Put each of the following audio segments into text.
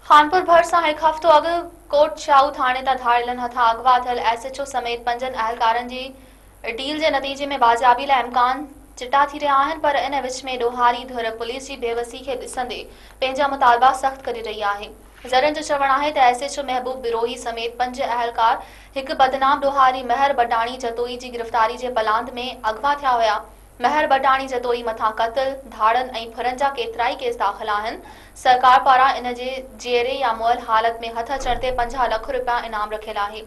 خانپور ڀرسان هڪ هفتو اڳ ڪوٽ شاهو ٿاڻي تان ڌاڙيلن هٿان اغوا ٿيل ايس ايڇ او سميت پنجن اهلڪارن جي ڊيل جي نتيجي ۾ بازيابي لاء امڪان چٽا ٿي رهيا آهن پر ان وچ ۾ ڏوهاري ڌر پوليس جي بيوسي کي ڏسندي پنهنجا مطالبا سخت ڪري رهي آهي ذريعن جو چوڻ آهي ته S H O Mehboob Brohi سميت پنج اهلڪار هڪ بدنام ڏوهاري مهر بڊاڻي جتوئي جي گرفتاري جي پلاند ۾ اغوا ٿيا هيا مهر بٽاڻي جتوئي مٿان قتل، ڌاڙن ۽ ڦرن جا ڪيترائي ڪيس داخل آهن، سرڪار پاران ان جي جيئري يا مئل حالت ۾ هٿ اچڻ تي پنجاهه لک رپيا انعام رکيل آهي.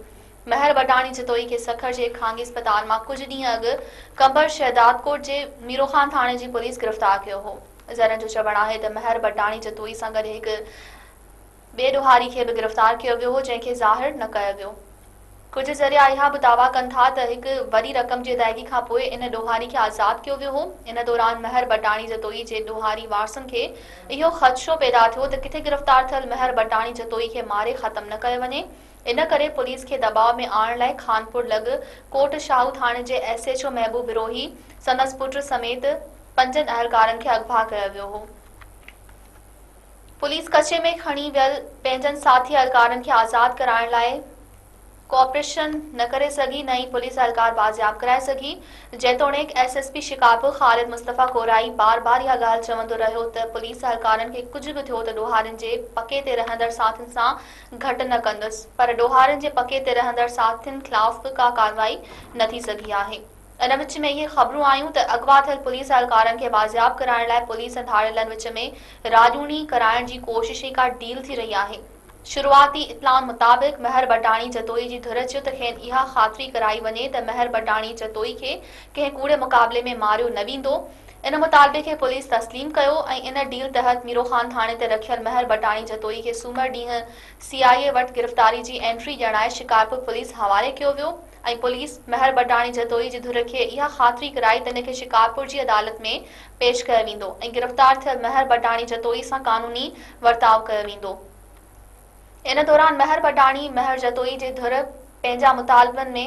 مهر بٽاڻي جتوئي کي سکر جي خانگي اسپتال مان ڪجهه ڏينهن اڳ قمبر شهدادڪوٽ جي ميروخان ٿاڻي جي پوليس گرفتار ڪيو هو. ذريعن جو چوڻ آهي ته مهر بٽاڻي جتوئي سان گڏ هڪ ٻئي ڏوهاري کي به گرفتار ڪيو ويو هو جنهن کي ظاهر نه ڪيو ويو. ڪجهه ذريعا اها به دعويٰ ڪن ٿا ته هڪ وڏي رقم جي ادائيگي کان پوء ان ڏوهاري کي آزاد ڪيو ويو هو. ان دوران مهر بٽاڻي جتوئي جي ڏوهاري وارثن کي اهو خدشو پيدا ٿيو ته ڪٿي گرفتار ٿيل مهر بٽاڻي جتوئي کي ماري ختم نه ڪيو وڃي ان ڪري پوليس کي دٻاء ۾ آڻڻ لاء خانپور لڳ ڪوٽ شاهو ٿاڻي جي S H O Mehboob Brohi سندس پٽ سميت پنجن اهلڪارن کي اغوا ڪيو ويو هو. پوليس ڪچي ۾ کڻي ويل پنهنجن ساٿي اهلڪارن کي آزاد ڪرائڻ لاء ڪوآپريشن نه ڪري سگهي نه ئي پوليس اهلڪار بازياب ڪرائي سگهي جيتوڻيڪ S S P Shikarpur Khalid Mustafa Korai بار بار اها ڳالهه چوندو رهيو ته پوليس اهلڪارن کي ڪجهه به ٿيو ته ڏوهارين جي پڪي تي رهندڙ ساٿين سان گهٽ نه ڪندس پر ڏوهارين جي پڪي تي رهندڙ ساٿين خلاف به ڪا ڪارروائي نه ٿي سگهي آهي. ان وچ ۾ اهي خبرون آيون ته اغوا ٿيل پوليس اهلڪارن کي بازياب ڪرائڻ لاء پوليس ۽ ڌاڙيلن وچ ۾ راڄوڻي ڪرائڻ جي ڪوشش ئي ڪا ڊيل ٿي رهي آهي. شروعاتي اطلاعن مطابق مهر بڊاڻي جتوئي جي ڌر چيو ته کين اها خاطري ڪرائي وڃي ته مهر بڊاڻي جتوئي کي ڪنهن ڪوڙي مقابلي ۾ ماريو نه ويندو. ان مطالبي کي پوليس تسليم ڪيو ۽ ان ڊيل تحت ميروخان ٿاڻي تي رکيل مهر بڊاڻي جتوئي کي سومر ڏينهن سي آء اي وٽ گرفتاري جي انٽري ڄڻائي شڪارپور پوليس حوالي ڪيو ويو. ۽ پوليس مهر بڊاڻي جتوئي جي ڌر کي اها خاطري ڪرائي ته هن کي شڪارپور جي عدالت ۾ پيش ڪيو ويندو ۽ گرفتار ٿيل مهر بڊاڻي جتوئي سان قانوني ورتاء ڪيو ويندو ان دوران مهر بڊاڻي مهر جتوئي جي ڌر پنهنجا مطالبن ۾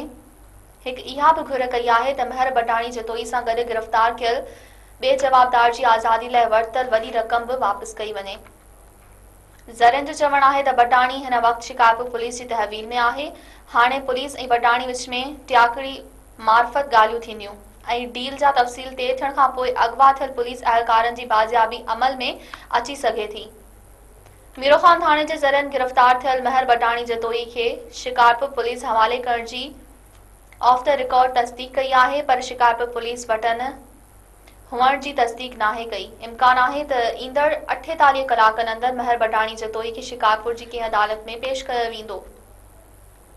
هڪ اها به گهر ڪئي آهي ته مهر بڊاڻي جتوئي سان گڏ گرفتار ٿيل ٻئي جوابدار جي آزادي لاء ورتل وڏي رقم به واپس ڪئي وڃي. ذريعن جو چوڻ آهي ته بٽاڻي هن وقت شڪارپور پوليس جي تحويل ۾ آهي، هاڻي پوليس ۽ بٽاڻي وچ ۾ ٽياڪڙي معرفت ڳالهيون ٿينديون ۽ ڊيل جا تفصيل طئي ٿيڻ کانپوء اغوا ٿيل پوليس اهلڪارن جي بازيابي عمل ۾ اچي سگهي ٿي. ميروخان ٿاڻي جي ذريعن گرفتار ٿيل مهر بٽاڻي جتوئي کي شڪارپور پوليس حوالي ڪرڻ جي آف دي رڪارڊ تصديق ڪئي آهي پر شڪارپور پوليس وٽن هئڻ جي تصديق ناهي ڪئي. امڪان آهي ته ايندڙ اٺيتاليهه ڪلاڪن اندر مهر بڍاڻي جتوئي کي شڪارپور جي ڪنهن عدالت ۾ پيش ڪيو ويندو.